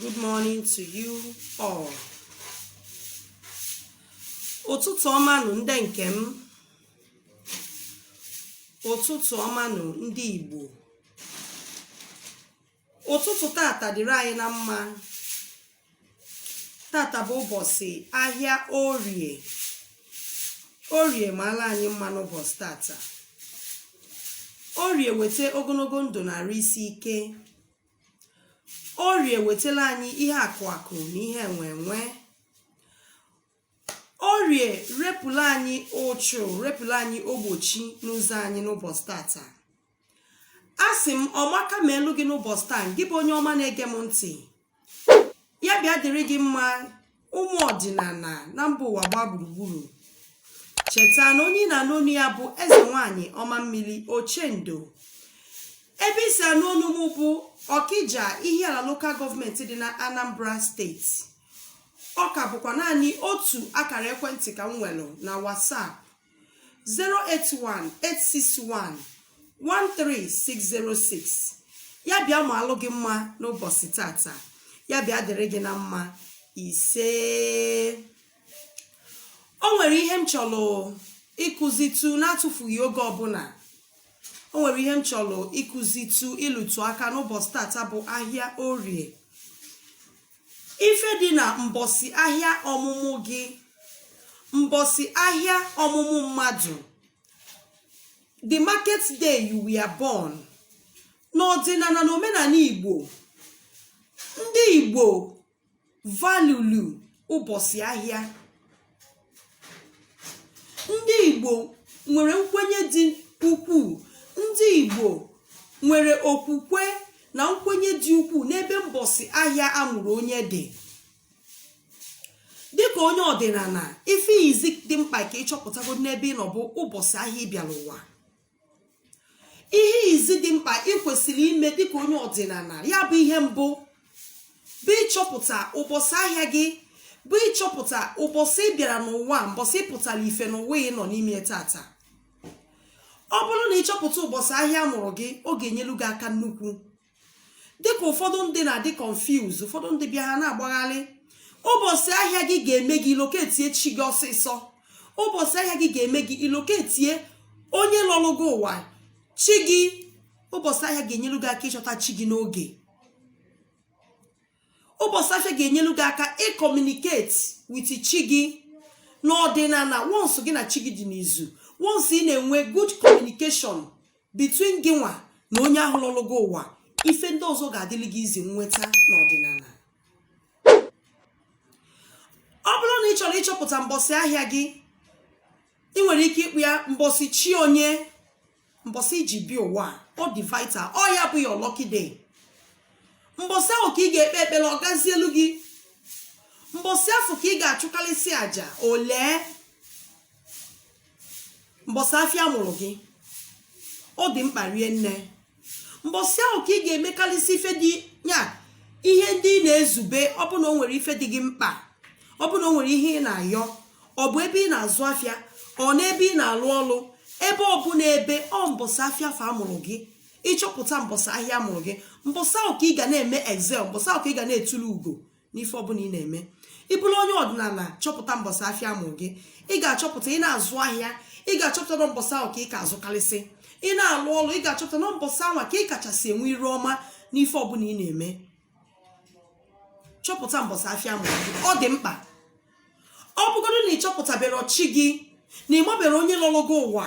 Good morning to you all. Ụtụtụ ọmanụ ndị nke m. Ụtụtụ ọmanụ ndị Igbo. Ụtụtụ tata dịrị anyị na mma. Tata bụ ụbọchị ahịa Orie. Orie maala anyị mma n'ụbọchị tata. Orie weta ogologo ndụ na arụ isi ike. Orie wetala anyị ihe akụ akụ na ihe enwe enwe. Orie repụla anyị ụchụ, repụla anyị ogbochi n'ụzọ anyị n'ụbọchị tata. A sị m ọmaka meelu gị n'ụbọchị taa, gị bụ onye ọma na-ege m ntị. Ya bịa dịrị gị mma, ụmụ ọdịnala na mba ụwa gbaa gburugburu cheta na onye na-anụ onu ya bụ eze nwanyị ọma mmiri ochendo ebe i si anụ onu m bụ ọkịja ihiala local government dị na anambra steeti ọ ka bụkwa naanị otu akara ekwentị ka m nwere na whatsapp 081-861-13606 ya bịa maalụ gị mma n'ụbọchị tata ya bịa dịrị gị na mma isee o nwere ihe m chọrọ ịkụzitụ n'atụfughị oge ọbụla o nwere ihe m chọrọ ịkụzitụ ịlụtụ aka n'ụbọchị tata bụ ahịa orie ife dị na mbọsị ahịa ọmụmụ gị mbọsị ahịa ọmụmụ mmadụ the market day you were born n'ọdịnala na omenala igbo ndị igbo valulu ụbọchị ahịa ndị Igbo nwere nkwenye dị ukwuu ndị Igbo nwere okwukwe na nkwenye dị ukwuu n'ebe mbọsị ahịa a mụrụ onye dị dịka onye ọdịnala ife izi dị mkpa ka ị chọpụtagodị n'ebe ị nọ bụ ụbọchị ahịa ị bịala ụwa ihe izi dị mkpa ị kwesịrị ime dịka onye ọdịnala ya bụ ihe mbụ bụ ịchọpụta ụbọchị ahịa gị bụ ịchọpụta ụbọchị ị bịara n'ụwa mbọsị ị pụtara ife n'ụwa ị nọ n'ime tata ọ bụrụ na ị chọpụta ụbọchị ahịa a mụrụ gị ọ ga-enyelu gị aka nnukwu dịka ụfọdụ ndị na-adị confuse ụfọdụ ndị bịa ha na-agbagharị ụbọchị ahịa gị ga-eme gị i locatie chi gị ọsịsọ ụbọchị ahịa gị ga-eme gị i locatie onye lọrụ gị ụwa chi gị ụbọchị ahịa ga-enyelu gị aka ịchọta chi gị n'oge ụbọchị ahịa ga-enyelu gị aka ị communicate with chi gị n'ọdịnala once gị na chi gị dị n'izu once ị na-enwe good communication between gịnwa na onye ahụ lọlụ gị ụwa ife ndị ọzọ ga-adịrị gị easy nweta n'ọdịnala ọ bụrụ na ị chọrọ ịchọpụta mbọsị ahịa gị ị nwere ike ịkpọ ya mbọsị chi onye mbọsị i ji bịa ụwa ọ dị vital ọ ya bụ your lucky day mbọsị ahụ ka ị ga-ekpe ekpere ọ gazielu gị mbọsị afụ ka ị ga-achụkarịsị àjà olee mbọsị afịa mụrụ gị ọ dị mkpa rie nne mbọsị ahụ ka ị ga-emekarịsị ife dị ya ihe ndị ị na-ezube ọ bụ na o nwere ife dị gị mkpa ọ bụ na o nwere ihe ị na-ayọ ọ bụ ebe ị na-azụ afịa or n'ebe ị na-alụ ọlụ ebe ọ bụ n'ebe ọ mbọsị afịa afụ a mụrụ gị ị chọpụta mbọsị ahịa a mụrụ gị mbọsị ahụ ka ị ga na-eme excel mbọsị ahụ ka ị ga na-etulu ugo n'ife ọbụla ị na-eme ị bụrụ onye ọdịnala chọpụta mbọsị afịa mụ gị ị ga-achọpụta ị na-azụ ahịa ị ga-achọpụta na mbọsị ahụ ka ị ka azụkarịsị ị na-alụ ọrụ ị ga-achọpụta na mbọsị ahụ ka ị kachasị enwe iru ọma n'ife ọbụla ị na-eme chọpụta mbọsị afịa mụ gị ọ dị mkpa ọ bụgodu na ị chọpụtaberọ chi gị na ị maberọ onye lọlụ gị ụwa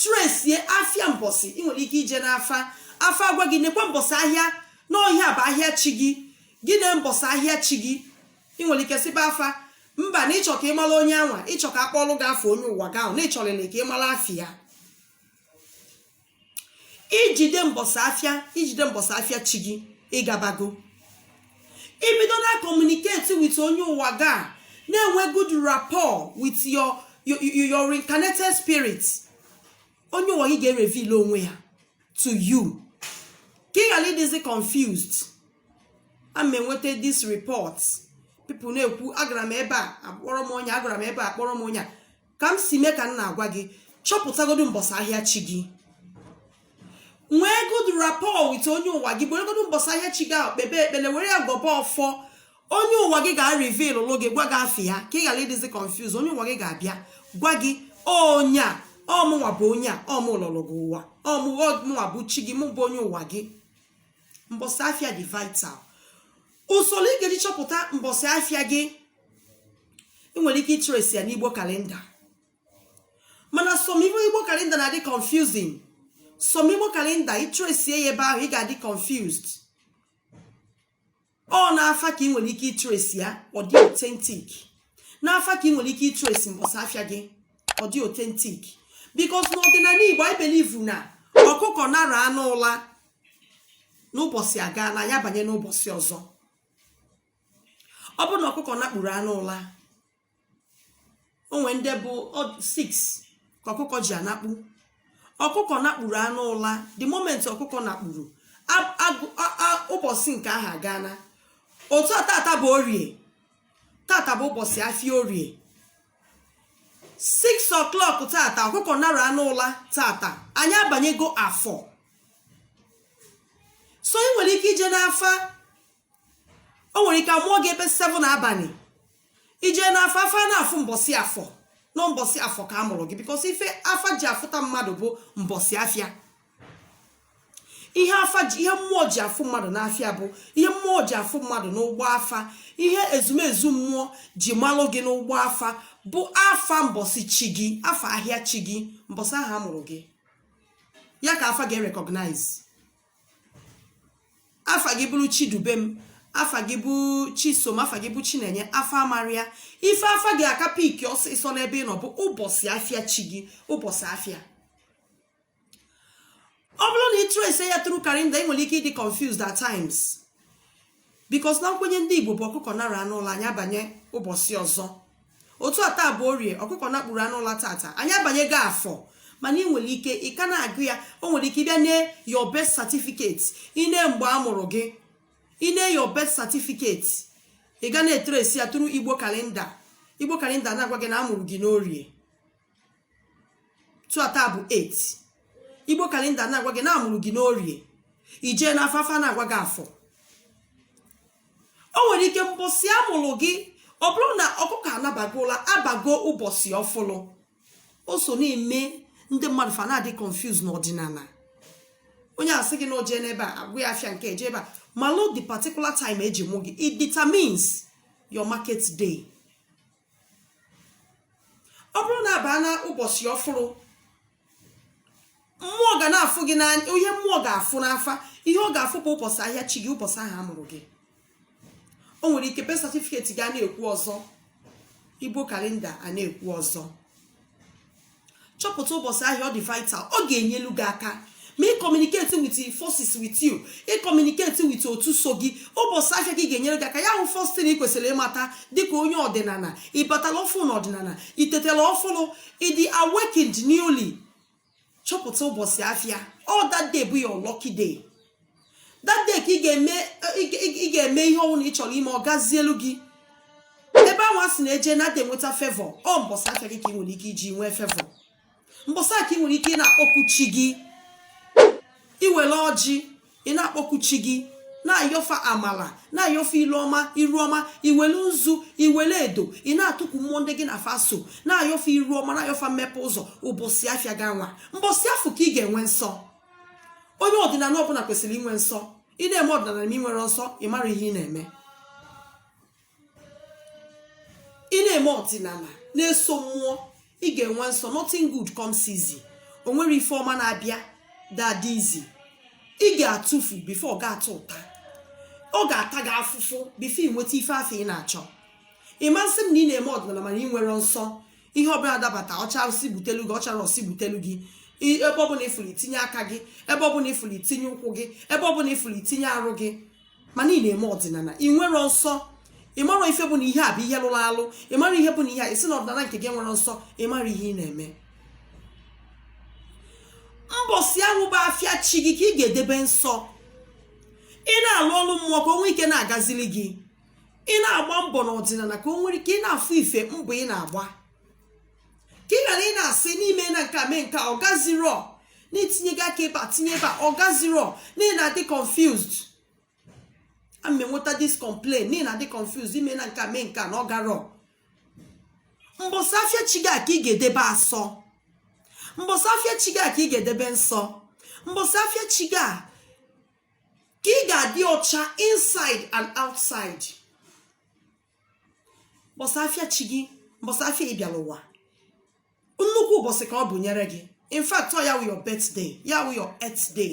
tresie afịa mbọsị ị nwere ike ije n'afa afa agwa gị nekwa mbọsị ahịa na ọ ihe a bụ ahịa chi gị gị na mbọsị ahịa chi gị ị nwere ike sịba afa mba na ị chọ ka ị mara onye anwa ị chọ ka a kpọlụ gị afa onye ụwa gị ahụ na ị chọlịlị ka ị mara afịa i jide mbọsị afịa i jide mbọsị afịa chi gị ị gabago i bido na-communicate with onye ụwa gị na-enwe good rapport with your your, your reincarnated spirit onye ụwa gị ga-ereveal onwe ya to you ka ị ghara ịdịzi confused ana m enweta this report people na-ekwu agara m ebe a akpọrọ m onye agara m ebe a akpọrọ m onye a ka m si mee ka m na-agwa gị chọpụtagodu mbọsị ahịa chi gị nwee good rapport with onye ụwa gị weregodu mbọsị ahịa chi gị ahụ kpebe ekpele were ya gọba ọfọ onye ụwa gị ga-reveal lụ gị gwa gị afa ya ka ị ghara ịdịzi confused onye ụwa gị ga-abịa gwa gị onye a ọ mụnwa bụ onye a ọ mụ lọlụ gị ụwa ọ mụnwa bụ chi gị mụ bụ onye ụwa gị mbọsị afịa dị vital usoro ị ga-eji chọpụta mbọsị afịa gị ị nwere ike itresi ya n'igbo kalenda mana some igbo kalenda na-adị confusing some igbo kalenda i tresie ya ebe ahụ ị ga-adị confused ọ n'afa ka ị nwere ike itresi ya ọ dị authentic n'afa ka ị nwere ike itresi mbọsị afịa gị ọ dị authentic because n'ọdịnala igbo anyị believe na ọkụkọ nara anụ ụla na ụbọchị agaa na ya banye n'ụbọchị ọzọ ọ bụrụ na ọkụkọ nakpuru anụ ụla o nwe ndị bụ 6 ka ọkụkọ ji anakpu ọkụkọ nakpuru anụ ụla the moment ọkụkọ nakpuru ụbọchị nke ahụ agana otu a tata bụ orie tata bụ ụbọchị afịa orie 6 o'clock tata ọkụkọ nara anụ ụla tata anyị abanyego afọ so ị nwere ike ije n'afa o nwere ike amụọ gị ebe 7 abalị ijee n'afa afa na-afụ mbọsị afọ na ọ mbọsị afọ ka a mụrụ gị because ife afa ji afụta mmadụ bụ mbọsị afịa ihe afa ji ihe mmụọ ji afụ mmadụ n'afịa bụ ihe mmụọ ji afụ mmadụ n'ụgbọ afa ihe ezumezu mmụọ ji malụ gị n'ụgbọ afa bụ afa mbọsị chi gị afa ahịa chi gị mbọsị ahụ a mụrụ gị ya ka afa ga-erecognize afa gị bụrụ chidubem afa gị bụ chisom afa gị bụ chinenye afa amarọ ya ife afa ga-aka pick ọsịsọ n'ebe ị nọ bụ ụbọchị afịa chi gị ụbọchị afịa ọ bụrụ na ị trace ya through calendar ị nwere ike ịdị confused at times because na nkwenye ndị igbo bụ ọkụkọ nara anụ ụla anyị abanye ụbọchị ọzọ otu a taa bụ orie ọkụkọ nakpuru anụ ụla tata anyị abanyego afọ mana ị nwere ike ị ka na-agụ ya o nwere ike ị bịa nee your birth certificate i nee mgbe a mụrụ gị i nee your birth certificate ị ga na-etrace ya through igbo calendar igbo calendar na-agwa gị na a mụrụ gị n'orie tata bụ 8 igbo calendar na-agwa gị na a mụrụ gị n'orie ijee n'afa afa na-agwa gị afọ o nwere ike mbọsị a mụrụ gị ọ bụrụ na ọkụkọ anabago ụla abago ụbọchị ọfụlụ o so na-eme ndị mmadụ fa na-adị confuse n'ọdịnala onye asị gị na o je n'ebe a a gwa ya afịa nke e je ebe a malụ the particular time e ji mụ gị it determines your market day ọ bụrụ na a baa na ụbọchị ọfụrụ mmụọ ga na-afụ gị n'anya ihe mmụọ ga-afụ n'afa ihe ọ ga-afụ bụ ụbọchị ahịa chi gị ụbọchị ahụ a mụrụ gị o nwere ike birth certificate gị a na-ekwu ọzọ igbo calendar a na-ekwu ọzọ chọpụta ụbọchị ahịa ọ dị vital ọ ga-enyelu gị aka ma ị communicate with forces with you ị communicate with otu so gị ụbọchị ahịa gị ga-enyere gị aka ya wụ first thing ị kwesịrị ịmata dịka onye ọdịnala ị batala ọfụ na ọdịnala i tetela ọfụlụ ị dị awakened newly chọpụta ụbọchị afịa ọ that day bụ your lucky day that day ka ị ga-eme ihe ọ wụna ị chọrọ ime ọ gazielu gị ebe ahụ a sị na e je na a da enweta favour ọ mbọsị afịa gị ka ị nwere ike iji nwee favour mbọsị a ka ị nwere ike ị na-akpọku chi gị i were ọjị ị na-akpọku chi gị na-ayọ fa amala na-ayọ fa ilu ọma iru ọma i wele nzu i wele edo ị na-atụkwu mmụọ ndị gị na fa so na-ayọ fa iru ọma na-ayọ fa mmepe ụzọ ụbọsị afịa gị anwa mbọsị afụ ka ị ga-enwe nsọ onye ọdịnala ọbụla kwesịrị inwe nsọ ị na-eme ọdịnala ma ị nwerọ nsọ ị marọ ihe ị na-eme ị na-eme ọdịnala na-eso mmụọ ị ga-enwe nsọ nothing good comes easy o nwerọ ife ọma na-abịa that easy ị ga-atụfu before ị ga-atụta ọ ga-ata gị afụfụ before ị nweta ife afụ ị na-achọ ị ma-asị m na ị na-eme ọdịnala mana ị nwerọ nsọ ihe ọbụla dabata ọcharụsị butelu gị ọchara ọsị butelu gị ebe ọbụla ị fụlụ ị tinye aka gị ebe ọbụla ị fụlụ ị tinye ụkwụ gị ebe ọbụla ị fụlụ ị tinye arụ gị mana ị na-eme ọdịnala ị nwerọ nsọ ị marọ ife bụ na ihe a bụ ihe lụrụ alụ ị marọ ihe bụ na ihe a ị sị na ọdịnala nke gị enwerọ nsọ ị marọ ihe ị na-eme mbọsị ahụ bụ afịa chi gị ka ị ga-edebe nsọ ị na-alụ ọrụ mmụọ ka o nwee ike na-agazili gị ị na-agba mbọ n'ọdịnala ka o nwere ike ị na-afụ ife mbọ ị na-agba ka ị ghara ị na-asị na i meena nke a mee nke a ọ gazirọ na i tinyego aka ebe a tinye ebe a ọ gazirọ na ị na-adị confused ana m enweta this complain na ị na-adị confused i meena nke a mee nke a na ọ garọ mbọsị afịa chi gị a ka ị ga-edebe asọ mbọsị afịa chi gị a ka ị ga-edebe nsọ mbọsị afịa chi gị a ka ị ga-adị ọcha inside and outside mbọsị afịa chi gị mbọsị afịa ị bịara ụwa nnukwu ụbọchị ka ọ bụ nyere gị in fact ọ ya wụ your birthday ya wụ your earth day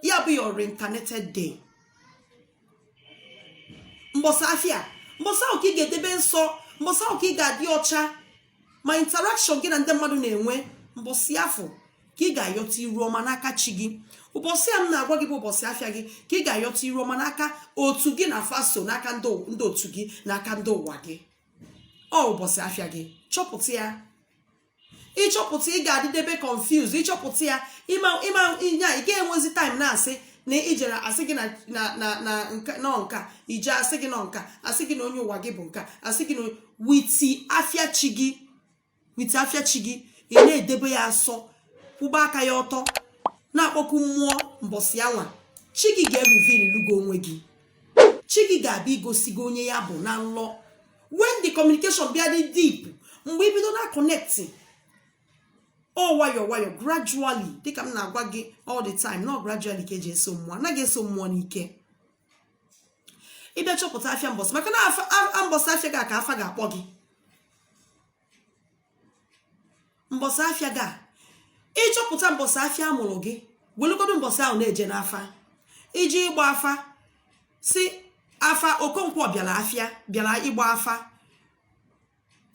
ya bụ your reincarnated day mbọsị afịa mbọsị ahụ ka ị ga-edebe nsọ mbọsị ahụ ka ị ga-adị ọcha ma interaction gị na ndị mmadụ na-enwe mbọsị afụ ka ị ga-ayọta iru ọma n'aka chi gị ụbọsị a m na-agwa gị bụ ụbọsị afịa gị ka ị ga-ayọta iru ọma n'aka otu gị na fa so n'aka ndị otu gị n'aka ndị ụwa gị ọ ụbọsị afịa gị chọpụta ya ị chọpụta ị ga-adịdebe confused ị chọpụta ya ị ma ihe a ị ga-enwezi time na-asị na i jere a sị gị na ọ nka i je a sị gị na ọ nka a sị gị na onye ụwa gị bụ nka a sị gị na with afịa chi gị with afịa chi gị ị na-edebe ya asọ kwụba aka ya ọtọ na-akpọku mmụọ mbọsị anwa chi gị ga-ereveal lụ gị onwe gị chi gị ga-abịa igosi gị onye ya bụ na nlọ when the communication bịa dị deep mgbe ị bido na-aconnect ọ nwayọ nwayọ gradually dịka m na-agwa gị all the time na ọ gradually ka e ji eso mmụọ anaghị eso mmụọ n'ike ị bịa chọpụta afịa mbọsị maka na mbọsị afịa gị ka afa ga-akpọ gị mbọsị afịa gị ị chọpụta mbọsị afịa a mụrụ gị welugodo mbọsị ahụ na-eje n'afa iji ịgba afa sị afa Okonkwo bịara afa bịara ịgba afa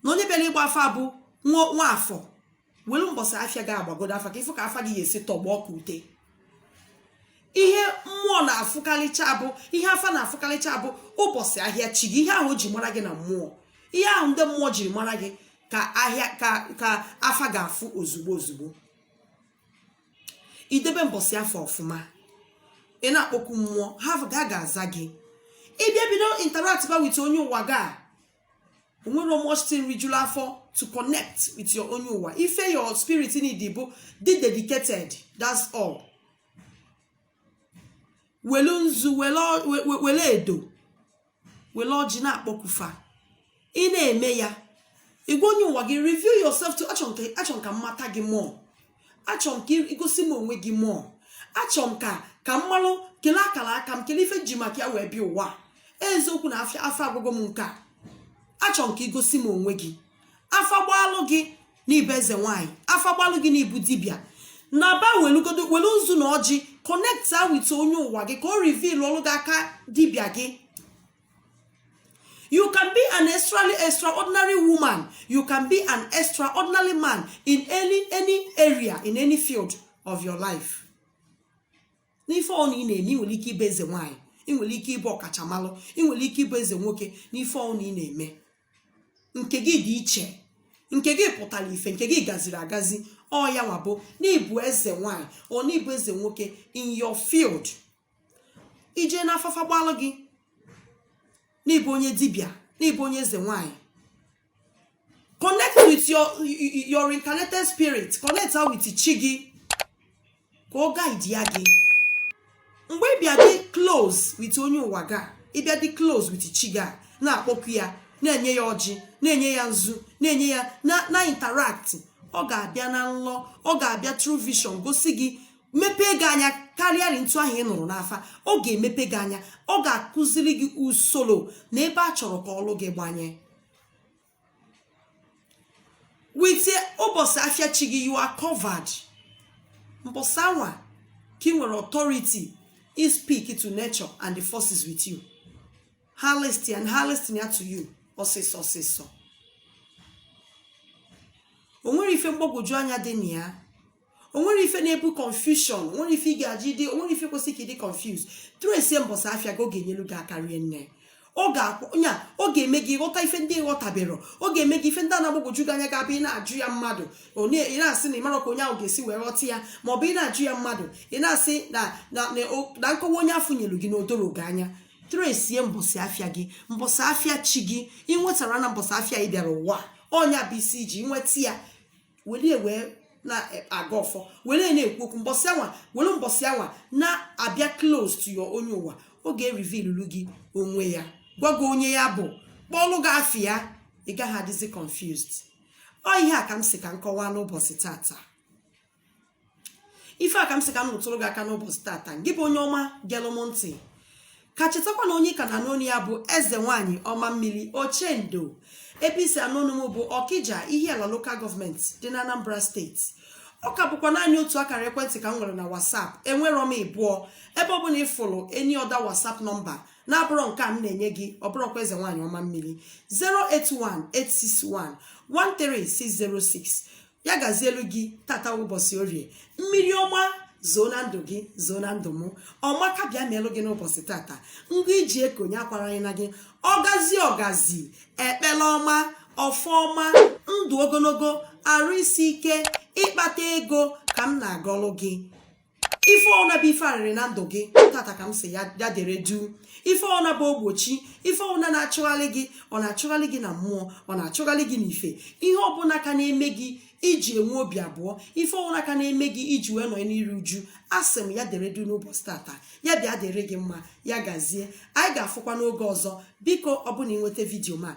na onye bịara ịgba afa bụ nwa afọ welu mbọsị afịa gị agbagodo afa ka ị fụ ka afa gị ga-esi tọgbọ ka ute ihe mmụọ na-afụkarịcha bụ ihe afa na-afụkarịcha bụ ụbọsị ahịa chi gị ihe ahụ o ji mara gị na mmụọ ihe ahụ ndị mmụọ jiri mara gị ka ahịa ka ka afa ga-afụ ozugbo ozugbo i debe mbọsị afọ ọfụma ị na-akpọku mmụọ ha ga-aza gị ị bịa bido interact ba with onye ụwa ga o nwere much thing rijulu afọ to connect with your onye ụwa ife your spirit need bụ dị dedicated that's all welu nzu wele edo wele ọjị na-akpọku fa ị na-eme ya ị gwa onye ụwa gị reveal yourself to achọ m ka m mata gị more achọ m ka i gosi m onwe gị more achọ m ka ka m malụ kele akara aka m kele ife ji maka ya wee bịa ụwa eziokwu na afa agwago m nke a achọ m ka i gosi m onwe gị afa gbalụ gị n'ị bụ eze nwaanyị afa gbalụ gị n'ị bụ dibịa naba welu nzu na ọjị connecta with onye ụwa gị ka o reveal ọlụ gị aka dibịa gị You can be an extra, extraordinary woman. You can be an extraordinary man in any, any area, in any field of your life. N'ife ọ na ị na-eme ị nwere ike ịbụ eze nwaanyị ị nwere ike ịbụ ọkachamalụ ị nwere ike ịbụ eze nwoke n'ife ọ na ị na-eme nke gị dị iche nke gị pụtara ife nke gị gaziri agazi ọ ya nwa bụ n'ị bụ eze nwaanyị or n'ị bụ eze nwoke in your field i je n'afa afa gbalụ gị n'ị bụ onye dibịa n'ị bụ onye eze nwanyị connect with your reincarnated spirit connecta with chi gị ka ọ guide ya gị mgbe ị bịa dị close with onye ụwa ga ị bịa dị close with chi ga na-akpọku ya na-enye ya ọjị na-enye ya nzu na-enye ya na-interact ọ ga-abịa na nlọ ọ ga-abịa through vision gosi gị mepee gị anya karịa ntu ahụ ị nụrụ n'afa ọ ga-emepe gị anya ọ ga-akụziri gị usoro na ebe a chọrọ ka ọlụ gị gbanye with ụbọsị afịa chi gị you are covered mbọsị anwa ka ị nwere authority i speak to nature and the forces with you ha listen ya ha listen ya to you ọsịsọ ọsịsọ o nwere ife mgbagwoju anya dị na ya onwere ife na-ebu confusion onwere ife ị ga-eji dị onwere ife kwesị ka ịdị confuse trace mbọsị afịa gị ọ ga-enyelu gị aka rie nne ọ ga-akwụ onye a ọ ga-eme gị ghọta ife ndị ị ghọtabero ọ ga-eme gị ife ndị na-agbagwoju gị anya ga-abụ ị na-ajụ ya mmadụ ị na-asị na ịmaro ka onye ahụ ga-esi wee ghọta ya ma ọ bụ ị na-ajụ ya mmadụ ị na-asị na na na- o- na nkọwa onye afụ nyelu gị na odoro gị anya trace mbọsị afịa gị mbọsị afịa chi gị ị nwetara na mbọsị afịa ị bịara ụwa ọ nya bụ isi iji nweta ya were ya wee na-agọ ọfọ were ya na-ekwu okwu mbọsị anwa were mbọsị anwa na-abịa close to your onye ụwa ọ ga-erivilulu gị onwe ya gwa gị onye ya bụ kpọlụ gị afa ya ị gaghị adịzi confused ọ ihe a ka m sị ka m kọwaa n'ụbọchị tata ife a ka m sị ka m rụtụrụ gị aka n'ụbọchị tata gị bụ onye ọma gelụ m ntị ka chetakwa na onye ka na-anụ onu ya bụ eze nwaanyị ọma mmiri ochendo ebe isi anụ onu m bụ ọkija ihiala local government dị na anambra steeti ọ ka bụkwa naanị otu akara ekwentị ka m nwere na whatsapp enwero m ịbụọ ebe ọ bụla ịfụrụ any other whatsapp nọmba na-abụrọ nke a m na-enye gị ọ bụrọkwa eze nwaanyị ọma mmiri 081 861 13606 ya gazielu gị tata ụbọchị orie mmiri ọma zoo na ndụ gị zoo na ndụ m ọma ka bịa melụ gị n'ụbọchị tata ngwa iji ekonye akwara anyị na gị ọgazi ọgazi ekpele ọma ọfọ ọma ndụ ogologo arụ isi ike ịkpata ego ka m na-agọlụ gị ife ọbụna bụ ife arịrị na ndụ gị tata ka m sị ya dere du ife ọbụna bụ ogbochi ife ọbụna na-achụgharị gị ọ na-achụgharị gị na mmụọ ọ na-achụgharị gị n'ife ihe ọbụla ka na-eme gị iji enwe obi abụọ ife ọbụla ka na-eme gị iji wee nọ n'iru uju asị m ya dere du n'ụbọchị tata ya bịa dịrị gị mma ya gazie anyị ga-afụkwa n'oge ọzọ biko ọbụna ịnweta vidiyo m a